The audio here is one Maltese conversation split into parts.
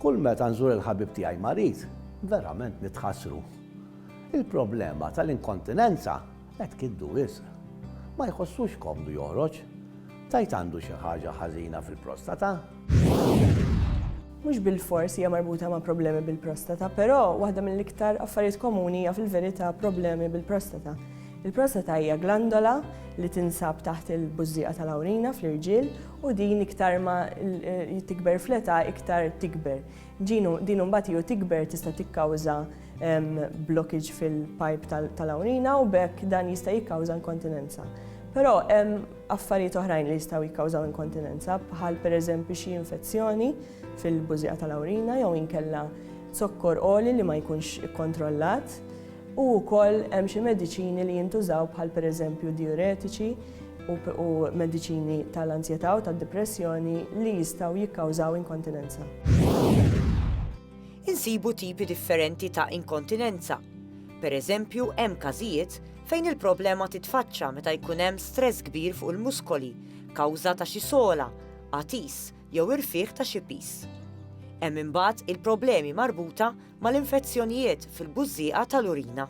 Kull meta nżur il-ħabib tiegħi marid, verament nitħassru. Il-problema tal-inkontinenza qed tgiddu wisq. Ma jħossux komdu joħroġ. Tgħid għandu xi ħaġa ħażina fil-prostata? Mhux bilfors hija marbuta ma' problemi bil-prostata, però waħda mill-iktar affarijiet komuni hija fil-verità problemi bil-prostata. Il-prostata hija glandola li tinsab taħt il-bużżieqa tal-awrina fl-irġiel U din iktar ma tikber fl-età iktar tikber. Din imbagħad hi u tikber tista' tikkawża blockage fil-pajp tal-awrina u b'hekk dan jista' jikkawża inkontinenza. Però hemm affarijiet oħrajn li jistgħu jikkawżaw inkontinenza bħal pereżempju xi infezzjoni fil-bużieqa tal-awrina jew inkella zokkor għoli li ma jkunx ikkontrollat u wkoll hemm xi mediċini li jintużaw bħal pereżempju dijuretiċi u mediċini tal-anzjetà u tad-dipressjoni li jistgħu jikkawżaw inkontinenza. Insibu tipi differenti ta' inkontinenza. Per eżempju, hemm każijiet fejn il-problema titfaċċa meta jkun hemm stress kbir fuq il-muskoli kawża ta' xi sogħla, għatis jew irfigħ ta' xi piż. Hemm imbagħad il-problemi marbuta mal-infezzjonijiet fil-bużżieqa tal-urina.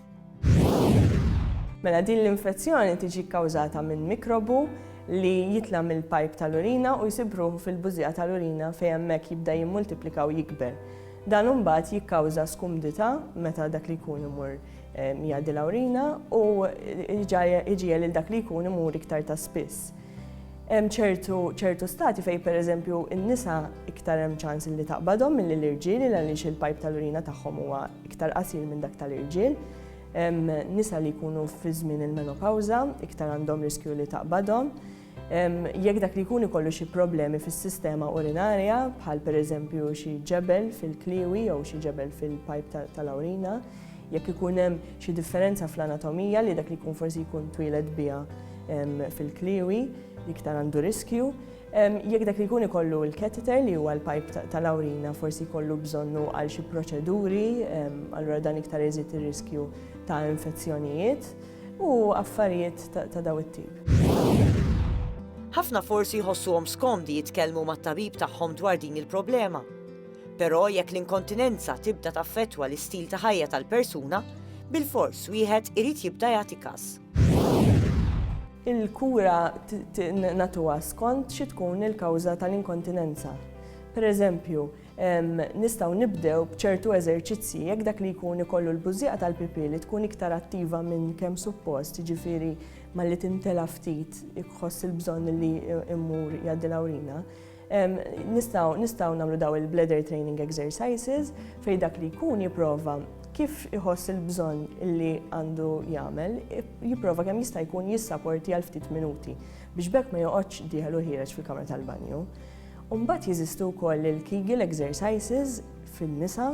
Mela din l-infezzjoni tiġi kkawżata minn mikrobu li jitla' mill-pajp tal-urina u jsib ruħu fil-bużżieqa tal-urina fejn hemmhekk jibda jimmultiplika u jikber. Dan imbagħad jikkawża skumdità meta dak li jkun imur jgħaddi l-awrina u iġiegħel lil dak li jkun imur iktar ta' spiss. Hemm ċertu ċertu stati fejn pereżempju n-nisa iktar hemm ċans li taqbadhom milli l-irġiel il għaliex il-pajp tal-urina tagħhom huwa iktar qasir minn dak tal-irġiel. Hemm nisa li jkunu fi żmien il-menopawża iktar għandhom riskju li taqbadhom. Jekk dak li jkun ikollu xi problemi fis-sistema urinarja bħal pereżempju xi ġebel fil-kliewi jew xi ġebel fil-pajp tal-awrina, Jekk ikun hemm xi differenza fl-anatomija li dak li jkun forsi jkun twieled biha fil-kliewi, iktar għandu riskju. Jekk dak li jkun ikollu l-catheter li huwa l-pajp tal-awrina forsi jkollu bżonnu għal xi proċeduri, allura dan iktar iżid ir-riskju ta' infezzjonijiet u affarijiet ta' dawn it-tip. Ħafna forsi jħossuhom skomdi jitkellmu mat-tabib tagħhom dwar din il-problema. Però jekk l-inkontinenza tibda taffettwa l-istil ta' ħajja tal-persuna, bilfors wieħed irid jibda jagħti każ. Il-kura nagħtuha skont xi tkun il-kawża tal-inkontinenza. Pereżempju, nistgħu nibdew b'ċertu eżerċizzji jekk dak li jkun ikollu l-bużżieqa tal-pipì li tkun iktar attiva minn kemm suppost, jiġifieri malli tintela' ftit iħoss il-bżonn li jmur jgħaddi l-awrina, Nistgħu nagħmlu daw il-bladder training exercises fejn dak li jkun jipprova kif iħoss il-bżonn li għandu jagħmel, jipprova kemm jista' jkun jissaporti għal ftit minuti biex bekk ma joqgħodx dieħel u ħiereġ fil-kamra tal-banju. Umbat jeżistu wkoll il-Kegel exercises fin-nisa,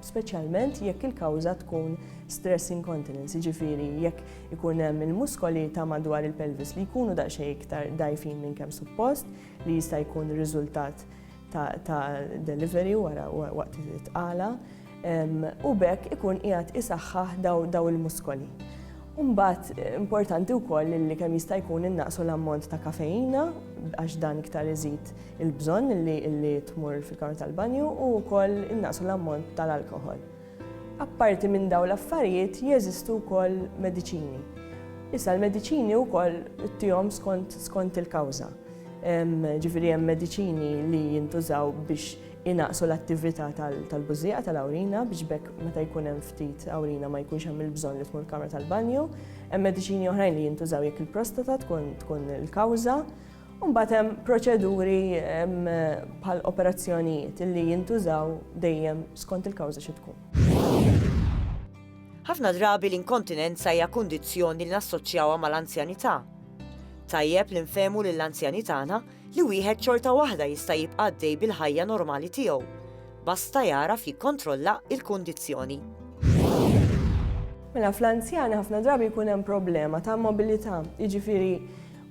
speċjalment jekk il-kawża tkun stress incontinence, ġifiri jekk ikun hemm il-muskoli ta' madwar il-pelvis li jkunu daqsxejn iktar dajfin minn kemm suppost, li jista' jkun riżultat ta' delivery wara waqt it-tqala u bekk ikun qiegħed isaħħaħ daw il-muskoli. Umbat, importanti wkoll li kemm jista' jkun innaqsu l-ammont ta' kafeina għax dan iktar iżid il-bżonn li tmur fil-kamra tal-banju u wkoll innaqsu l-ammont tal-alkohol. Apparti minn dawn l-affarijiet jeżistu wkoll mediċini. Issa l-mediċini wkoll ittihom skont skont il-kawża. Ġifieri hemm mediċini li jintużaw biex inaqsu l-attività tal-bużieqa tal-awrina biex bekk meta jkun hemm ftit awrina ma jkunx hemm il-bżonn li tmur kamra tal-banju. Hemm mediċini oħrajn li jintużaw jekk il-prostata tkun il-kawża. U mbagħad hemm proċeduri bħal operazzjonijiet li jintużaw dejjem skont il-kawża xi tkun. Ħafna drabi l-inkontinenza hija kundizzjoni li nassoċjawha mal-anzjanità. Tajjeb li nfehmu lill-anzjani tagħna li wieħed xorta waħda jista' jibqa' għaddej bil-ħajja normali tiegħu, basta jagħraf jikkontrolla il-kundizzjoni. Mela fl-anzjani ħafna drabi jkun hemm problema ta' mobilità, jiġifieri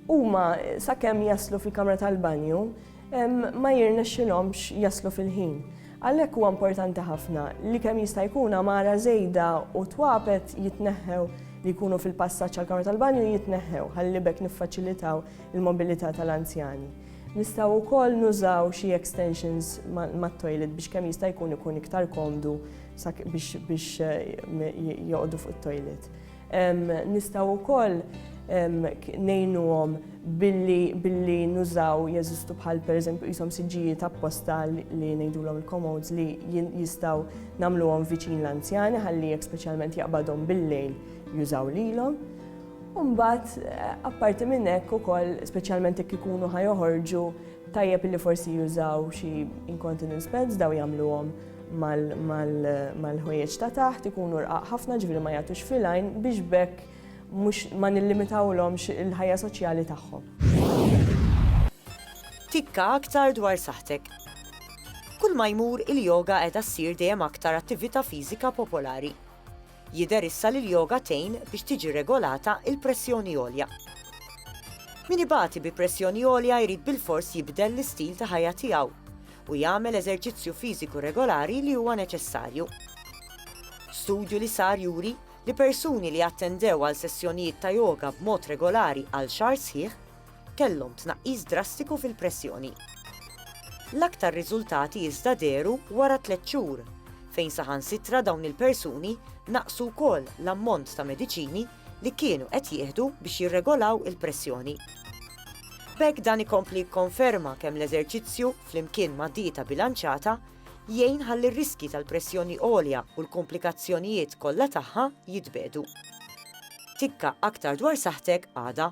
Huma, sakemm jaslu fil-kamra tal-banju, ma jirnexxilhomx jaslu fil-ħin. Għalhekk huwa importanti ħafna li kemm jista' jkun għamara żejda u twapet jitneħħew li jkunu fil-passaġġ għall-kamra tal-banju jitneħħew ħalli b'hekk niffaċilitaw il-mobilità tal-anzjani. Nistgħu wkoll nużaw xi extensions mat-toilet biex kemm jista' jkun ikun iktar komdu biex joqogħdu fuq it-toilet. Nistgħu wkoll ngħinuhom billi nużaw jeżistu bħal pereżempju qishom siġġijiet apposta li ngħidulhom il-commodes li jistgħu nagħmluhom viċin l-anzjani ħalli jekk speċjalment jaqbadhom bil-lejl jużaw lilhom. U mbagħad eh, apparti minn hekk ukoll speċjalment jekk ikunu ħajoħorġu tajjeb li forsi jużaw xi incontinence pads daw jagħmluhom mal-ħwejjeġ ta' taħt ikunu rqaq ħafna ġifieri ma jagħtux filajn biex bekk mhux ma nillimitawlhomx il-ħajja soċjali tagħhom. Tikka aktar dwar saħtek. Kull ma jmur il-yoga qiegħda ssir dejjem aktar attività fiżika popolari. Jidher issa li l-yoga tgħin biex tiġi regolata l-pressjoni għolja. Min ibati bi pressjoni għolja jrid bilfors jibdel l-istil ta' ħajja tiegħu u jagħmel eżerċizzju fiżiku regolari li huwa neċessarju. Studju li sar juri li persuni li attendew għal sessjonijiet ta' yoga b'mod regolari għal xahar sħiħ, kellhom tnaqqis drastiku fil-pressjoni. L-aktar riżultati iżda dehru wara tliet xhur, fejn saħansitra dawn il-persuni naqqsu wkoll l-ammont ta' mediċini li kienu qed jieħdu biex jirregolaw il-pressjoni. B'hekk dan ikompli jikkonferma kemm l-eżerċizzju, flimkien ma' dieta bilanċata, jgħin ħalli r-riskji tal-pressjoni għolja u l-kumplikazzjonijiet kollha tagħha jitbiegħdu. Tikka aktar dwar saħħtek għada.